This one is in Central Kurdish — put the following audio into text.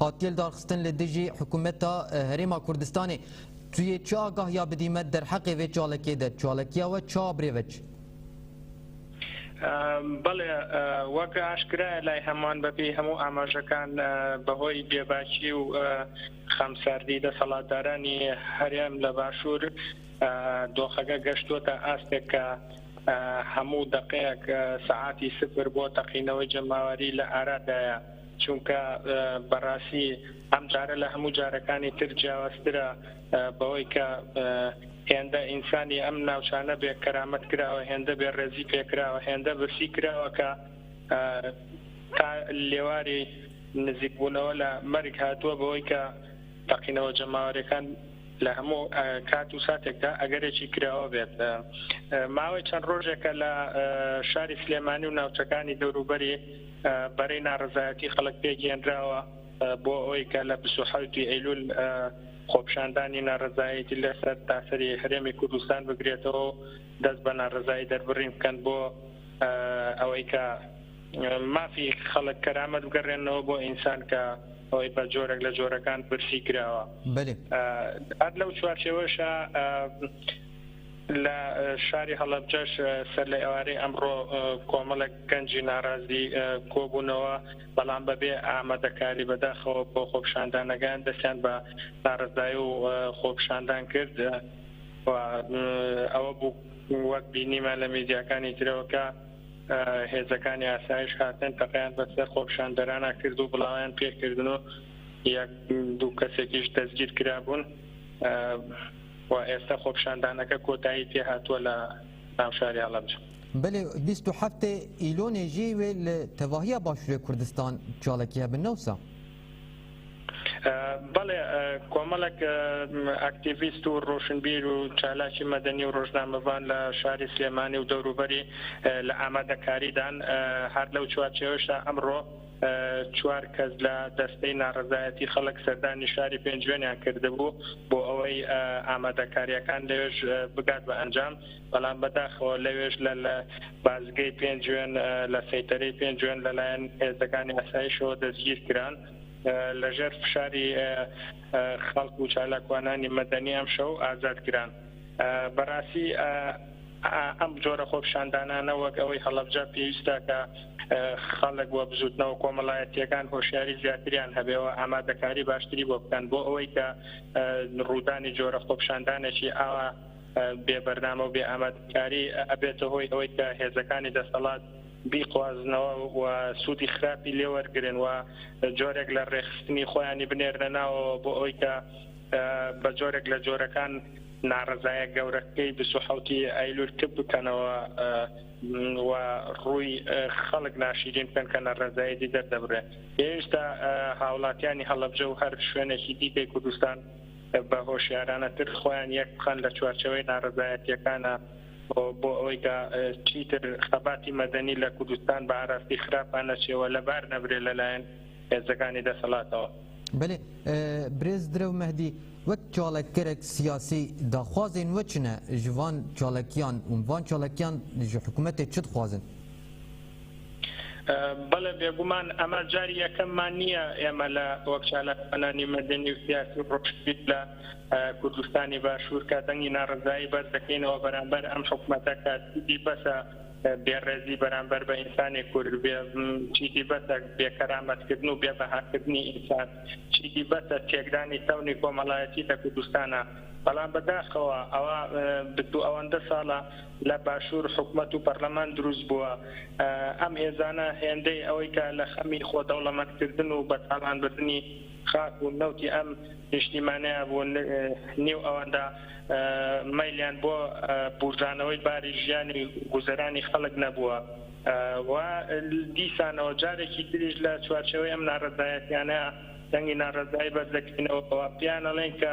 هاتیل دارخستن لە دژی حکومەتا هەرێما کوردستانێ تویێ چ ئاگاهیا بدیمە دەرحەقێ ڤێ چاڵەکیێ دە؟ چاڵەکیاوە چا برێ ڤەچ؟ بەڵێ وەک ئاشکرایە لای هەمووان بەپێی هەموو ئاماژەکان بەهۆی بێباکی و خەمساردی دەسەڵاتدارانی هەرێم لە باشوور دۆخەکە گەشتوتە ئاستێک کە هەموو دەقەیەک سەعاتی سفر بۆ تەقینەوەی جەماوەری لە ئارادایە. چونکە بەڕاستی ئەم جارە لە هەموو جارەکانی تر جیاوازترە بەوەی کە هێندە ئینسانی ئەم ناوچانە بێ کەرامەت کراوە هێندە بێ ڕێزی پێکراوە هێندە برسی کراوە کە تا لێواری نزیکبوونەوە لە مەرگ هاتووە بەوەی کە تەقینەوە جەماوەرەکان لە هەموو کات و ساتێکدا ئەگەرێکی کراوە بێت ماوەی چەند ڕۆژێکە لە شاری سلێمانی و ناوچەکانی دەوروبەری بەرەی ناڕەزایەتی خەڵک پێکهێنراوە بۆ ئەوەی کە لە بیست و حەوت ی ئەیلول خۆپیشاندانی ناڕەزایەتی لەسەر تاسەری هەرێمی کوردستان بگرێتەوە و دەست بە ناڕەزایی دەربڕین بکەن بۆ ئەوەی کە مافی خەڵک کەرامەت بگەڕێنەوە بۆ ئینسان کە ئەوەی بە جۆرێک لە جۆرەکان برسی کراوە بەلێ هەر لەو چوارچێوەشە لە شاری هەڵەبجەش سەر لە ئێوارەی ئەمڕۆ کۆمەڵێک گەنجی ناڕازی کۆبوونەوە، بەڵام بەبێ ئامادەکاری بەداخەوە بۆ خۆپیشاندانەکەیان دەستیان بە ناڕەزایی و خۆپیشاندان کرد و ئەوە بوو وەک بینیمان لە میدیاکانی ترەوە کە هێزەکانی ئاسایش هاتن تەقەیان بەسەر خۆپیشاندەرانە کرد و بڵاویان پێکردن و یەک دوو کەسێکیش دەستگیر کرابوون و ئێستا خۆپیشاندانەکە کۆتایی پێهاتووە لە ناوشاری هەڵەبجە. بلێ بیست و هەفتێ ئیلۆنێ ژێ وێ لە تەواهیە باشوورێ کوردستان چاڵەکی هەبن نەوسا. بەڵێ کۆمەڵک ئەکتیڤیست و ڕۆشنبیر و چالاکی مەدەنی و ڕۆژنامەبان لە شاری سلێمانی و دەوروبەری لە ئامادەکاریدان هەر لەو چوارچێوەشدا ئەمڕۆ چوار کەس لە دەستەی ناڕزایەتی خەڵک سەردانی شاری پێنجوێنیان کردبوو بۆ ئەوەی ئامادەکاریەکان لەێژ بگات بە ئەنجام بەڵام بەداخەوە لەوێش لە لە بازگەی پێنجوێن لە سەیتەرەی پێنجوێن لەلایەن هێزەکانی ئاسایشەوە دەستگیر کران لەژێر فشاری خەڵک و چالاکوانانی مەدەنی ئەم شەو ئازاد کران بەڕاستی ئەم جۆرە خۆپشاندانانە وەک ئەوەی هەڵەبجە پێویستە کە خەڵک وە بزوتنەوە کۆمەڵایەتیەکان هۆشیاری زیاتریان هەبێەوە ئامادەکاری باشتری بۆ بکەن بۆ ئەوەی کە ڕوودانی جۆرە خۆپشاندانێکی ئاوا بێ بەرنامە و بێ ئامادەکاری ئەبێتە هۆی ئەوەی کە هێزەکانی دەسەڵات بیقوازنەوە و سوودی خراپی لێ وەرگرن و جۆرێک لە ڕێکخستنی خۆیانی بنێرنە ناوەوە بۆ ئەوەی کە بە جۆرێک لە جۆرەکان ناڕەزایە گەورەکەی بیست و حەوتی ئەیلول کپ بکەنەوە و ڕووی خەڵک ناشیرین بکەن کە نەڕەزایەتی دەردەبرێن. پێویستە هاوڵاتیانی هەڵەبجە و هەر شوێنێکی دیکەی کوردستان بە هۆشیارانەتر خۆیان یەک بخەن لە چوارچێوەی نارەزایەتیەکانا و بۆ ئەوەی کە چیتر خەباتی مەدەنی لە کوردستان بە ئاراستی خراپا نەچێ و لەبار نەبرێ لە لایەن هێزەکانی دەسەڵاتەوە. بەلێ برێز درەو مەهدی وەک چاڵککەرەک سیاسی داخوازێن وە چنە ژ ڤان چاڵکیان و ڤان چاڵکیان ژ حکومەتێ چ دخوازن؟ بەڵێ بێگومان ئەمە جاری یەکەممان نییە ئێمە لە وەک چالاکوانانی مەدەنی و سیاسی و ڕۆشنبیر لە کوردستانی باشوور کە دەنگی ناڕەزایی بەرز دەکەینەوە بەرامبەر ئەم حکومەتە کە چیدی بەسە بێڕێزی بەرامبەر بە ئینسانی کورد بێ چیدی بەسە بێکەرامەتکردن و بێبەهاکردنی ئینسان چیدی بەسە تێکدانی تەونی کۆمەڵایەتی لە کوردستانە بەڵام بەداخەوە ئەوە بتو ئەوەندە ساڵە لە باشوور حکومەت و پەرلەمان دروست بووە، ئەم هێزانە هێندەی ئەوەی کە لە خەمی خۆ دەوڵەمەند کردن و بە تاڵان بردنی خاک و نەوتی ئەم نیشتیمانەیە بوون نیو ئەوەندە مەیلیان بۆ بووژانەوەی باری ژیان و گوزەرانی خەڵک نەبووە و دیسانەوە جارێکی تریش لە چوارچێوەی ئەم ناڕەزایەتیانە دەنگی ناڕەزایی بەرز دەکەینەوە و پێیان ئەڵێین کە